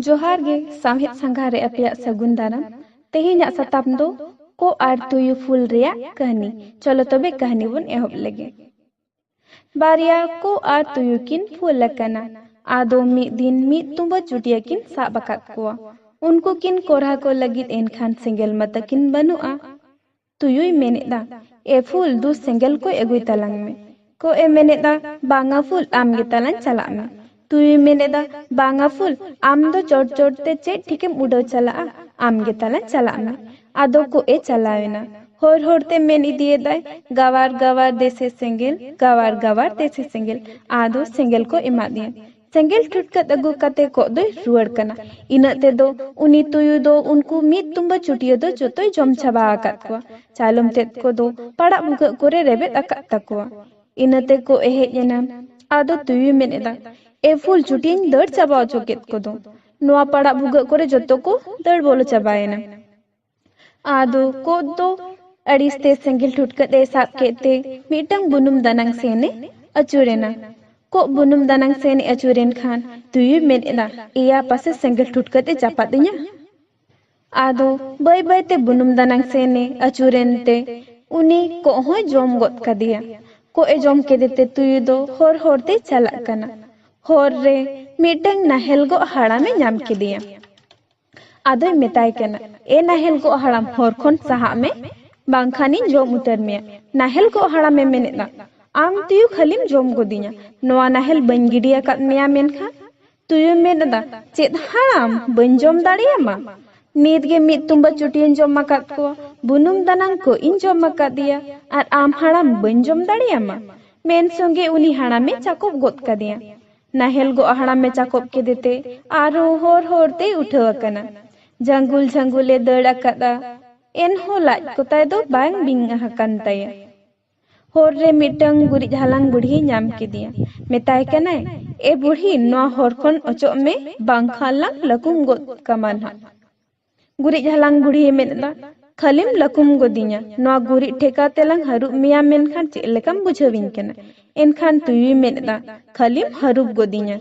ᱡᱚᱦᱟᱨ ᱜᱮ ᱥᱟᱶᱦᱮᱫ ᱥᱟᱸᱜᱷᱟ ᱨᱮ ᱟᱯᱮᱭᱟᱜ ᱥᱟᱹᱜᱩᱱ ᱫᱟᱨᱟᱢ ᱛᱮᱦᱮᱧᱟᱜ ᱥᱟᱛᱟᱢ ᱫᱚ ᱠᱚ ᱟᱨ ᱛᱩᱭᱩ ᱯᱷᱩᱞ ᱨᱮᱭᱟᱜ ᱠᱟᱹᱦᱱᱤ ᱪᱚᱞᱚ ᱛᱚᱵᱮ ᱠᱟᱹᱦᱱᱤ ᱵᱚᱱ ᱮᱦᱚᱵ ᱞᱮᱜᱮ ᱵᱟᱨᱭᱟ ᱠᱚ ᱟᱨ ᱛᱩᱭᱩ ᱠᱤᱱ ᱯᱷᱩᱞ ᱟᱠᱟᱱᱟ ᱟᱫᱚ ᱢᱤᱫ ᱫᱤᱱ ᱢᱤᱫ ᱛᱩᱢᱵᱟᱹ ᱪᱩᱴᱤᱭᱟᱹ ᱠᱤᱱ ᱥᱟᱵ ᱟᱠᱟᱫ ᱠᱚᱣᱟ ᱩᱱᱠᱩ ᱠᱤᱱ ᱠᱚᱨᱦᱟ ᱠᱚ ᱞᱟᱹᱜᱤᱫ ᱮᱱᱠᱷᱟᱱ ᱥᱮᱸᱜᱮᱞ ᱢᱟᱛᱟ ᱠᱤᱱ ᱵᱟᱹᱱᱩᱜᱼᱟ ᱛᱩᱭᱩᱭ ᱢᱮᱱᱮᱫᱟ, ᱮ ᱯᱷᱩᱞ ᱫᱩ ᱥᱮᱸᱜᱮᱞ ᱠᱚᱭ ᱟᱹᱜᱩᱭ ᱛᱟᱞᱟᱝ ᱢᱮ᱾ ᱠᱚᱜ ᱮ ᱢᱮᱱᱮᱫᱟ, ᱵᱟᱝᱟ ᱯᱷᱩᱞ ᱟᱢ ᱜᱮ ᱛᱟᱞᱟᱝ ᱪᱟᱞᱟᱜ ᱢᱮ᱾ ᱛᱩᱭᱩᱭ ᱢᱮᱱᱮᱫᱟ, ᱵᱟᱝᱟ ᱯᱷᱩᱞ ᱟᱢ ᱫᱚ ᱪᱚᱴ ᱪᱚᱴ ᱛᱮ ᱪᱮᱫ ᱴᱷᱤᱠᱮᱢ ᱩᱰᱟᱹᱣ ᱪᱟᱞᱟᱜᱼᱟ, ᱟᱢ ᱜᱮ ᱛᱟᱞᱟᱝ ᱪᱟᱞᱟᱜ ᱢᱮ᱾ ᱟᱫᱚ ᱠᱚᱜ ᱮ ᱪᱟᱞᱟᱣ ᱮᱱᱟ᱾ ᱦᱚᱨ ᱦᱚᱨ ᱛᱮ ᱢᱮᱱ ᱤᱫᱤᱭᱮᱫᱟᱭ, ᱜᱟᱣᱟᱨ ᱜᱟᱣᱟᱨ ᱫᱮᱥᱮ ᱥᱮᱸᱜᱮᱞ, ᱜᱟᱣᱟᱨ ᱜᱟᱣᱟᱨ ᱫᱮᱥᱮ ᱥᱮᱸᱜᱮᱞ᱾ ᱟᱫᱚ ᱥᱮᱸᱜᱮᱞ ᱠᱚ ᱮᱢᱟᱫᱮᱭᱟ᱾ ᱥᱮᱸᱜᱮᱞ ᱴᱷᱩᱴᱠᱟᱹᱫ ᱟᱹᱜᱩ ᱠᱟᱛᱮ ᱠᱚᱜ ᱫᱚᱭ ᱨᱩᱣᱟᱹᱲ ᱠᱟᱱᱟ᱾ ᱤᱱᱟᱹᱜ ᱛᱮᱫᱚ ᱩᱱᱤ ᱛᱩᱭᱩ ᱫᱚ ᱩᱱᱠᱩ ᱢᱤᱫ ᱛᱩᱢᱵᱟᱹ ᱪᱩᱴᱭᱟᱹ ᱫᱚ ᱡᱚᱛᱚᱭ ᱡᱚᱢ ᱪᱟᱵᱟ ᱟᱠᱟᱫ ᱠᱚᱣᱟ᱾ ᱪᱟᱭᱞᱚᱢ ᱛᱮᱫ ᱠᱚ ᱫᱚ ᱯᱟᱲᱟᱜ ᱵᱷᱩᱜᱟᱹᱜ ᱠᱚᱨᱮ ᱨᱮᱵᱮᱫ ᱟᱠᱟᱫ ᱛᱟᱠᱚᱣᱟ᱾ ᱤᱱᱟᱹ ᱛᱮ ᱠᱚᱜ ᱮ ᱦᱮᱡ ᱮᱱᱟ᱾ ᱟᱫᱚ ᱛᱩᱭᱩᱭ ᱢᱮᱱ ᱮᱫᱟ, ᱮ ᱯᱷᱩᱞ ᱪᱩᱴᱭᱟᱹᱧ ᱫᱟᱹᱲ ᱪᱟᱵᱟ ᱚᱪᱚ ᱠᱮᱫ ᱠᱚᱫᱚ᱾ ᱱᱚᱶᱟ ᱯᱟᱲᱟᱜ ᱵᱷᱩᱜᱟᱹᱜ ᱠᱚᱨᱮ ᱡᱚᱛᱚ ᱠᱚ ᱫᱟᱹᱲ ᱵᱚᱞᱚ ᱪᱟᱵᱟᱭᱮᱱᱟ᱾ ᱟᱫᱚ ᱠᱚᱫ ᱫᱚ ᱟᱹᱲᱤᱥ ᱛᱮ ᱥᱮᱸᱜᱮᱞ ᱴᱷᱩᱴᱠᱟᱹᱫ ᱮ ᱥᱟᱵ ᱠᱮᱫ ᱛᱮ ᱢᱤᱫᱴᱟᱝ ᱵᱩᱱᱩᱢ ᱫᱟᱱᱟᱝ ᱥᱮᱱ ᱮ ᱟᱹᱪᱩᱨ ᱮᱱᱟ᱾ ᱠᱚᱜ ᱵᱩᱱᱩᱢ ᱫᱟᱱᱟᱝ ᱥᱮᱱ ᱮ ᱟᱹᱪᱩᱨ ᱮᱱ ᱠᱷᱟᱱ ᱛᱩᱭᱩᱭ ᱢᱮᱱ ᱮᱫᱟ ᱮᱭᱟ ᱯᱟᱥᱮ ᱥᱮᱸᱜᱮᱞ ᱴᱷᱩᱴᱠᱟᱹᱫ ᱮ ᱪᱟᱯᱟᱫ ᱤᱧᱟ᱾ ᱟᱫᱚ ᱵᱟᱹᱭ ᱵᱟᱹᱭ ᱛᱮ ᱵᱩᱱᱩᱢ ᱫᱟᱱᱟᱝ ᱥᱮᱱ ᱮ ᱟᱹᱪᱩᱨ ᱮᱱ ᱛᱮ ᱩᱱᱤ ᱠᱚᱜ ᱦᱚᱸᱭ ᱡᱚᱢ ᱜᱚᱫ ᱠᱟᱫᱮᱭᱟ᱾ ᱠᱚᱜ ᱮ ᱡᱚᱢ ᱠᱮᱫᱮ ᱛᱮ ᱛᱩᱭᱩ ᱫᱚ ᱦᱚᱨ ᱦᱚᱨ ᱛᱮᱭ ᱪᱟᱞᱟᱜ ᱠᱟᱱᱟ᱾ ᱦᱚᱨ ᱨᱮ ᱢᱤᱫᱴᱟᱝ ᱱᱟᱦᱮᱞ ᱜᱚᱜ ᱦᱟᱲᱟᱢ ᱮ ᱧᱟᱢ ᱠᱮᱫᱮᱭᱟ᱾ ᱟᱫᱚᱭ ᱢᱮᱛᱟᱭ ᱠᱟᱱᱟ, ᱮ ᱱᱟᱦᱮᱞ ᱜᱚᱜ ᱦᱟᱲᱟᱢ ᱦᱚᱨ ᱠᱷᱚᱱ ᱥᱟᱦᱟᱜ ᱢᱮ, ᱵᱟᱝᱠᱷᱟᱱᱤᱧ ᱡᱚᱢ ᱩᱛᱟᱹᱨ ᱢᱮᱭᱟ᱾ ᱱᱟᱦᱮᱞ ᱜᱚᱜ ᱦᱟᱲᱟᱢᱮ ᱢᱮᱱᱮᱫᱼᱟ, ᱟᱢ ᱛᱩᱭᱩ ᱠᱷᱟᱹᱞᱤᱢ ᱡᱚᱢ ᱜᱚᱫᱤᱧᱟ, ᱱᱚᱣᱟ ᱱᱟᱦᱮᱞ ᱵᱟᱹᱧ ᱜᱤᱰᱤ ᱟᱠᱟᱫ ᱢᱮᱭᱟ ᱢᱮᱱᱠᱷᱟᱱ᱾ ᱛᱩᱭᱩᱭ ᱢᱮᱱᱮᱫᱼᱟ, ᱪᱮᱫ ᱦᱟᱲᱟᱢ, ᱵᱟᱹᱧ ᱡᱚᱢ ᱫᱟᱲᱮᱭᱟᱢᱟ᱾ ᱱᱤᱛ ᱜᱮ ᱢᱤᱫ ᱛᱩᱢᱵᱟᱹ ᱪᱩᱴᱤᱭᱟᱹᱧ ᱡᱚᱢ ᱟᱠᱟᱫ ᱠᱚᱣᱟ, ᱵᱩᱱᱩᱢ ᱫᱟᱱᱟᱝ ᱠᱚᱜ ᱤᱧ ᱡᱚᱢ ᱟᱠᱟᱫᱮᱭᱟ ᱟᱨ ᱟᱢ ᱦᱟᱲᱟᱢ ᱵᱟᱹᱧ ᱡᱚᱢ ᱫᱟᱲᱮᱭᱟᱢᱟ᱾ ᱢᱮᱱ ᱥᱚᱸᱜᱮ ᱩᱱᱤ ᱦᱟᱲᱟᱢᱮ ᱪᱟᱠᱚᱵ ᱜᱚᱫ ᱠᱟᱫᱮᱭᱟ᱾ ᱱᱟᱦᱮᱞ ᱜᱚᱜ ᱦᱟᱲᱟᱢ ᱢᱮ ᱪᱟᱠᱚᱵ ᱠᱮᱫᱮ ᱛᱮ ᱟᱨᱦᱚᱸ ᱦᱚᱨ ᱦᱚᱨ ᱛᱮᱭ ᱩᱴᱷᱟᱹᱣ ᱟᱠᱟᱱᱟ᱾ ᱡᱷᱟᱹᱝᱜᱩᱞ ᱡᱷᱟᱹᱝᱜᱩᱞ ᱮ ᱫᱟᱹᱲ ᱟᱠᱟᱫᱼᱟ᱾ ᱮᱱᱦᱚᱸ ᱞᱟᱡ ᱠᱚ ᱛᱟᱭ ᱫᱚ ᱵᱟᱝ ᱵᱤᱝ ᱟᱠᱟᱱ ᱛᱟᱭᱟ᱾ ᱦᱚᱨ ᱨᱮ ᱢᱤᱫᱴᱟᱹᱝ ᱜᱩᱨᱤᱡ ᱦᱟᱞᱟᱝ ᱵᱩᱰᱷᱤᱭ ᱧᱟᱢ ᱠᱮᱫᱮᱭᱟ᱾ ᱢᱮᱛᱟᱭ ᱠᱟᱱᱟᱭ, ᱮ ᱵᱩᱰᱷᱤ ᱱᱚᱶᱟ ᱦᱚᱨ ᱠᱷᱚᱱ ᱚᱪᱚᱜ ᱢᱮ ᱵᱟᱝ ᱠᱷᱟᱱ ᱞᱟᱝ ᱞᱟᱹᱠᱩᱢ ᱜᱚᱫ ᱠᱟᱢᱟ ᱱᱷᱟᱜ᱾ ᱜᱩᱨᱤᱡ ᱦᱟᱞᱟᱝ ᱵᱩᱲᱦᱤᱭ ᱢᱮᱱ ᱮᱫᱟ ᱠᱷᱟᱹᱞᱤᱢ ᱞᱟᱹᱠᱩᱢ ᱜᱚᱫᱤᱧᱟ ᱱᱚᱣᱟ ᱜᱩᱨᱤᱡ ᱴᱷᱮᱠᱟ ᱛᱮᱞᱟᱝ ᱦᱟᱹᱨᱩᱵ ᱢᱮᱭᱟ ᱢᱮᱱᱠᱷᱟᱱ ᱪᱮᱫ ᱞᱮᱠᱟᱢ ᱵᱩᱡᱷᱟᱹᱣᱤᱧ ᱠᱟᱱᱟ ᱮᱱᱠᱷᱟᱱ ᱛᱩᱭᱩᱭ ᱢᱮᱱ ᱮᱫᱟ ᱠᱷᱟᱹᱞᱤᱢ ᱦᱟᱹᱨᱩᱵ ᱜᱚᱫᱤᱧᱟ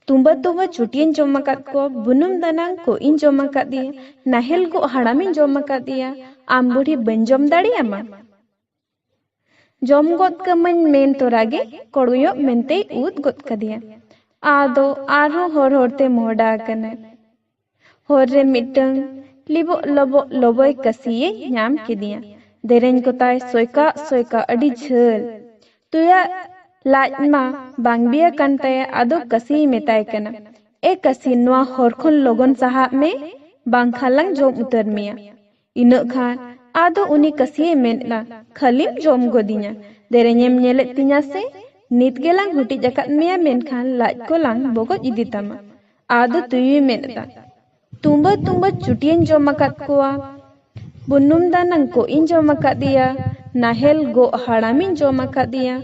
ᱛᱩᱢᱵᱟᱹ ᱛᱩᱢᱵᱟᱹ ᱪᱩᱴᱤᱧ ᱡᱚᱢ ᱟᱠᱟᱫ ᱠᱚᱣᱟ ᱵᱩᱱᱩᱢ ᱫᱟᱱᱟᱝ ᱠᱚ ᱤᱧ ᱡᱚᱢ ᱟᱠᱟᱫᱮᱭᱟ ᱱᱟᱦᱮᱞ ᱜᱚᱜ ᱦᱟᱲᱟᱢᱤᱧ ᱡᱚᱢ ᱟᱠᱟᱫᱮᱭᱟ ᱟᱢ ᱵᱩᱲᱦᱤ ᱵᱟᱹᱧ ᱡᱚᱢ ᱫᱟᱲᱮᱭᱟᱢᱟ ᱡᱚᱢ ᱜᱚᱫ ᱠᱟᱹᱢᱟᱹᱧ ᱢᱮᱱ ᱛᱚᱨᱟ ᱜᱮ ᱠᱚᱲᱚᱭᱚᱜ ᱢᱮᱱᱛᱮᱭ ᱩᱫ ᱜᱚᱫ ᱠᱟᱫᱮᱭᱟ ᱟᱫᱚ ᱟᱨᱦᱚᱸ ᱦᱚᱨ ᱦᱚᱨ ᱛᱮ ᱢᱚᱦᱰᱟ ᱟᱠᱟᱱᱟᱭ ᱦᱚᱨ ᱨᱮ ᱢᱤᱫᱴᱟᱝ ᱞᱤᱵᱚᱜ ᱞᱚᱵᱚᱜ ᱞᱚᱵᱚᱭ ᱠᱟᱹᱥᱤᱭᱮ ᱧᱟᱢ ᱠᱮᱫᱮᱭᱟ ᱫᱮᱨᱮᱧ ᱠᱚᱛᱟᱭ ᱥᱚᱭᱠᱟᱜ ᱥᱚᱭᱠᱟᱜ ᱟᱹᱰᱤ ᱡᱷᱟᱹᱞ ᱛᱩᱭᱟᱜ ᱞᱟᱡ ᱢᱟ ᱵᱟᱝ ᱵᱤᱭᱟ ᱠᱟᱱ ᱛᱟᱭᱟ ᱟᱫᱚ ᱠᱟᱹᱥᱤᱭ ᱢᱮᱛᱟᱭ ᱠᱟᱱᱟ ᱮ ᱠᱟᱹᱥᱤ ᱱᱚᱣᱟ ᱦᱚᱨ ᱠᱷᱚᱱ ᱞᱚᱜᱚᱱ ᱥᱟᱦᱟᱜ ᱢᱮ ᱵᱟᱝᱠᱷᱟᱱ ᱞᱟᱝ ᱡᱚᱢ ᱩᱛᱟᱹᱨ ᱢᱮᱭᱟ ᱤᱱᱟᱹᱜ ᱠᱷᱟᱱ ᱟᱫᱚ ᱩᱱᱤ ᱠᱟᱹᱥᱤᱭᱮ ᱢᱮᱱ ᱮᱱᱟ ᱠᱷᱟᱹᱞᱤᱢ ᱡᱚᱢ ᱜᱚᱫᱤᱧᱟ ᱫᱮᱨᱮᱧᱮᱢ ᱧᱮᱞᱮᱫ ᱛᱤᱧᱟ ᱥᱮ ᱱᱤᱛ ᱜᱮᱞᱟᱝ ᱦᱩᱴᱤᱡ ᱟᱠᱟᱫ ᱢᱮᱭᱟ ᱢᱮᱱᱠᱷᱟᱱ ᱞᱟᱡ ᱠᱚᱞᱟᱝ ᱵᱚᱜᱚᱡ ᱤᱫᱤ ᱛᱟᱢᱟ ᱟᱫᱚ ᱛᱩᱭᱩᱭ ᱢᱮᱱ ᱮᱫᱟ ᱛᱩᱢᱵᱟᱹ ᱛᱩᱢᱵᱟᱹ ᱪᱩᱴᱤᱭᱟᱹᱧ ᱡᱚᱢ ᱟᱠᱟᱫ ᱠᱚᱣᱟ ᱵᱩᱱᱩᱢ ᱫᱟᱱᱟᱝ ᱠᱚᱜ ᱤᱧ ᱡᱚᱢ ᱟᱠᱟᱫᱮᱭᱟ ᱱᱟᱦᱮᱞ ᱜᱚᱜ ᱦᱟᱲᱟᱢᱤᱧ ᱡᱚᱢ ᱟᱠᱟᱫᱮᱭᱟ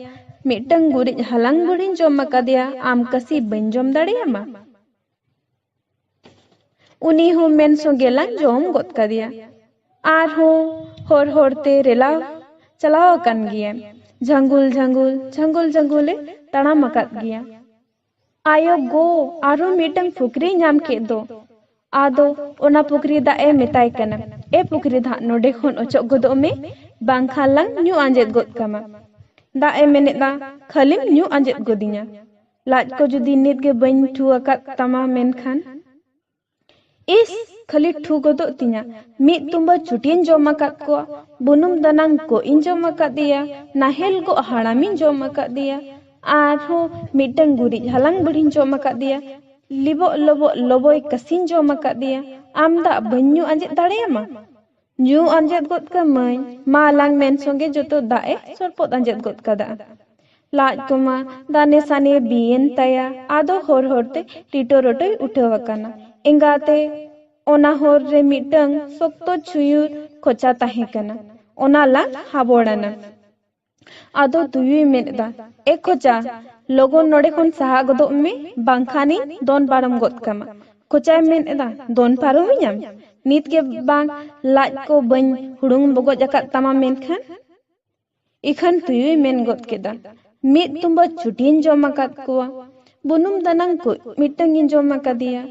ᱢᱤᱫᱴᱟᱝ ᱜᱩᱨᱤᱡ ᱦᱟᱞᱟᱝ ᱵᱩᱲᱦᱤᱧ ᱡᱚᱢ ᱟᱠᱟᱫᱮᱭᱟ ᱟᱢ ᱠᱟᱹᱥᱤ ᱵᱟᱹᱧ ᱡᱚᱢ ᱫᱟᱲᱮᱭᱟᱢᱟ ᱩᱱᱤ ᱦᱚᱸ ᱢᱮᱱ ᱥᱚᱸᱜᱮ ᱞᱟᱝ ᱡᱚᱢ ᱜᱚᱫ ᱠᱟᱫᱮᱭᱟ ᱟᱨᱦᱚᱸ ᱦᱚᱨ ᱦᱚᱨᱛᱮ ᱨᱮᱞᱟ ᱪᱟᱞᱟᱣ ᱟᱠᱟᱱ ᱜᱮᱭᱟ ᱡᱷᱟᱝᱜᱩᱞ ᱡᱷᱟᱝᱜᱩᱞ ᱡᱷᱟᱝᱜᱩᱞ ᱡᱷᱟᱝᱜᱩᱞᱮ ᱛᱟᱲᱟᱢ ᱟᱠᱟᱫ ᱜᱮᱭᱟ ᱟᱭᱳ ᱜᱚ ᱟᱨᱦᱚᱸ ᱢᱤᱫᱴᱟᱝ ᱯᱩᱠᱷᱨᱤ ᱧᱟᱢ ᱠᱮᱫ ᱫᱚ ᱟᱫᱚ ᱚᱱᱟ ᱯᱩᱠᱷᱨᱤ ᱫᱟᱜ ᱮ ᱢᱮᱛᱟᱭ ᱠᱟᱱᱟ ᱮ ᱯᱩᱠᱷᱨᱤ ᱫᱟᱜ ᱱᱚᱰᱮ ᱠᱷᱚᱱ ᱚᱪᱚᱜ ᱜᱚᱫᱚᱜ ᱢᱮ ᱵᱟᱝᱠᱷᱟᱱ ᱞᱟᱝ ᱧᱩ ᱟᱸᱡᱮᱫ ᱜᱚᱫ ᱠᱟᱢᱟ ᱫᱟᱜ ᱮ ᱢᱮᱱᱮᱫᱟ ᱠᱷᱟᱹᱞᱤᱢ ᱧᱩ ᱟᱸᱡᱮᱫ ᱜᱚᱫᱤᱧᱟ ᱞᱟᱡ ᱠᱚ ᱡᱩᱫᱤ ᱱᱤᱛ ᱜᱮ ᱵᱟᱹᱧ ᱴᱷᱩ ᱟᱠᱟᱫ ᱛᱟᱢᱟ ᱢᱮᱱᱠᱷᱟᱱ ᱤᱥ ᱠᱷᱟᱹᱞᱤ ᱴᱷᱩ ᱜᱚᱫᱚᱜ ᱛᱤᱧᱟ ᱢᱤᱫ ᱛᱩᱢᱵᱟᱹ ᱪᱩᱴᱤᱧ ᱡᱚᱢ ᱟᱠᱟᱫ ᱠᱚᱣᱟ ᱵᱩᱱᱩᱢ ᱫᱟᱱᱟᱝ ᱠᱚᱜ ᱤᱧ ᱡᱚᱢ ᱟᱠᱟᱫᱮᱭᱟ ᱱᱟᱦᱮᱞ ᱜᱚᱜ ᱦᱟᱲᱟᱢᱤᱧ ᱡᱚᱢ ᱟᱠᱟᱫᱮᱭᱟ ᱟᱨᱦᱚᱸ ᱢᱤᱫᱴᱟᱝ ᱜᱩᱨᱤᱡ ᱦᱟᱞᱟᱝ ᱵᱩᱲᱦᱤᱧ ᱡᱚᱢ ᱟᱠᱟᱫᱮᱭᱟ ᱞᱤᱵᱚᱜ ᱞᱚᱵᱚᱜ ᱞᱚᱵᱚᱭ ᱠᱟᱹᱥᱤᱧ ᱡᱚᱢ ᱟᱠᱟᱫᱮᱭᱟ ᱟᱢ ᱫᱟᱜ ᱵᱟᱹᱧ ᱧᱩ ᱟᱸᱡᱮᱫ ᱫᱟᱲᱮᱭᱟᱢᱟ ᱧᱩ ᱟᱸᱡᱮᱫ ᱜᱚᱫ ᱠᱟᱹᱢᱟᱹᱧ ᱢᱟ ᱟᱞᱟᱝ ᱢᱮᱱ ᱥᱚᱸᱜᱮ ᱡᱚᱛᱚ ᱫᱟᱜ ᱮ ᱥᱚᱨᱯᱚᱫ ᱟᱸᱡᱮᱫ ᱜᱚᱫ ᱠᱟᱫᱟ ᱞᱟᱡ ᱠᱚᱢᱟ ᱫᱟᱱᱮ ᱥᱟᱱᱮ ᱵᱤᱭᱮᱱ ᱛᱟᱭᱟ ᱟᱫᱚ ᱦᱚᱨ ᱦᱚᱨ ᱛᱮ ᱴᱤᱴᱚ ᱨᱚᱴᱚᱭ ᱩᱴᱷᱟᱹᱣ ᱟᱠᱟᱱᱟ ᱮᱸᱜᱟᱛᱮ ᱚᱱᱟ ᱦᱚᱨ ᱨᱮ ᱢᱤᱫᱴᱟᱝ ᱥᱚᱠᱛᱚ ᱪᱷᱩᱭᱩᱨ ᱠᱷᱚᱪᱟ ᱛᱟᱦᱮᱸ ᱠᱟᱱᱟ ᱚᱱᱟ ᱞᱟᱝ ᱦᱟᱵᱚᱲᱟᱱᱟ ᱟᱫᱚ ᱛᱩᱭᱩᱭ ᱢᱮᱱ ᱮᱫᱟ, ᱮ ᱠᱷᱚᱪᱟ, ᱞᱚᱜᱚᱱ ᱱᱚᱰᱮ ᱠᱷᱚᱱ ᱥᱟᱦᱟ ᱜᱚᱫᱚᱜ ᱢᱮ ᱵᱟᱝᱠᱷᱟᱱᱤᱧ ᱫᱚᱱ ᱯᱟᱨᱚᱢ ᱜᱚᱫ ᱠᱟᱢᱟ᱾ ᱠᱷᱚᱪᱟᱭ ᱢᱮᱱ ᱮᱫᱟ, ᱫᱚᱱ ᱯᱟᱨᱚᱢᱤᱧᱟᱢ? ᱱᱤᱛ ᱜᱮ ᱵᱟᱝ ᱞᱟᱡ ᱠᱚ ᱵᱟᱹᱧ ᱦᱩᱲᱩᱝ ᱵᱚᱜᱚᱡ ᱟᱠᱟᱫ ᱛᱟᱢᱟ ᱢᱮᱱᱠᱷᱟᱱ᱾ ᱤᱠᱷᱟᱹᱱ ᱛᱩᱭᱩᱭ ᱢᱮᱱ ᱜᱚᱫ ᱠᱮᱫᱟ, ᱢᱤᱫ ᱛᱩᱢᱵᱟᱹ ᱪᱷᱩᱴᱤᱧ ᱡᱚᱢ ᱟᱠᱟᱫ ᱠᱚᱣᱟ, ᱵᱩᱱᱩᱢ ᱫᱟᱱᱟᱝ ᱠᱩᱡ ᱢᱤᱫᱴᱟᱹᱝ ᱤᱧ ᱡᱚᱢ ᱟᱠᱟᱫᱮᱭᱟ,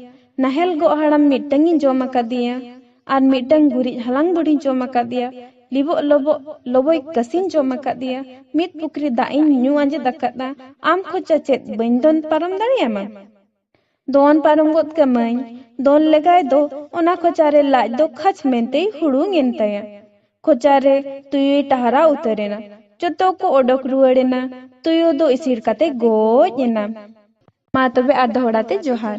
ᱱᱟᱦᱮᱞ ᱜᱚᱜ ᱦᱟᱲᱟᱢ ᱢᱤᱫᱴᱟᱹᱝ ᱤᱧ ᱡᱚᱢ ᱟᱠᱟᱫᱮᱭᱟ, ᱟᱨ ᱢᱤᱫᱴᱟᱝ ᱜᱩᱨᱤᱡ ᱦᱟᱞᱟᱝ ᱵᱩᱰᱷᱤᱧ ᱡᱚᱢ ᱟᱠᱟᱫᱮᱭᱟ ᱞᱤᱵᱚᱜ ᱞᱚᱵᱚᱜ ᱞᱚᱵᱚᱭ ᱠᱟᱹᱥᱤᱧ ᱡᱚᱢ ᱟᱠᱟᱫᱮᱭᱟ ᱢᱤᱫ ᱯᱩᱠᱷᱨᱤ ᱫᱟᱜ ᱤᱧ ᱧᱩ ᱟᱸᱡᱮᱫ ᱟᱠᱟᱫᱟ ᱟᱢ ᱠᱷᱚᱡᱟ ᱪᱮᱫ ᱵᱟᱹᱧ ᱫᱚᱱ ᱯᱟᱨᱚᱢ ᱫᱟᱲᱮᱭᱟᱢᱟ ᱫᱚᱱ ᱯᱟᱨᱚᱢ ᱜᱚᱫ ᱠᱟᱹᱢᱟᱹᱧ ᱫᱚᱱ ᱞᱮᱜᱟᱭ ᱫᱚ ᱚᱱᱟ ᱠᱷᱚᱪᱟ ᱨᱮ ᱞᱟᱡ ᱫᱚ ᱠᱷᱟᱪ ᱢᱮᱱᱛᱮᱭ ᱦᱩᱲᱩᱝ ᱮᱱ ᱛᱟᱭᱟ ᱠᱷᱚᱪᱟ ᱨᱮ ᱛᱩᱭᱩᱭ ᱴᱟᱦᱨᱟ ᱩᱛᱟᱹᱨ ᱮᱱᱟ ᱡᱚᱛᱚ ᱠᱚ ᱚᱰᱚᱠ ᱨᱩᱣᱟᱹᱲ ᱮᱱᱟ ᱛᱩᱭᱩ ᱫᱚ ᱤᱥᱤᱲ ᱠᱟᱛᱮ ᱜᱚᱡ ᱮᱱᱟ ᱢᱟ ᱛᱚᱵᱮ ᱟᱨ ᱫᱚᱦᱲᱟ ᱛᱮ ᱡᱚᱦᱟᱨ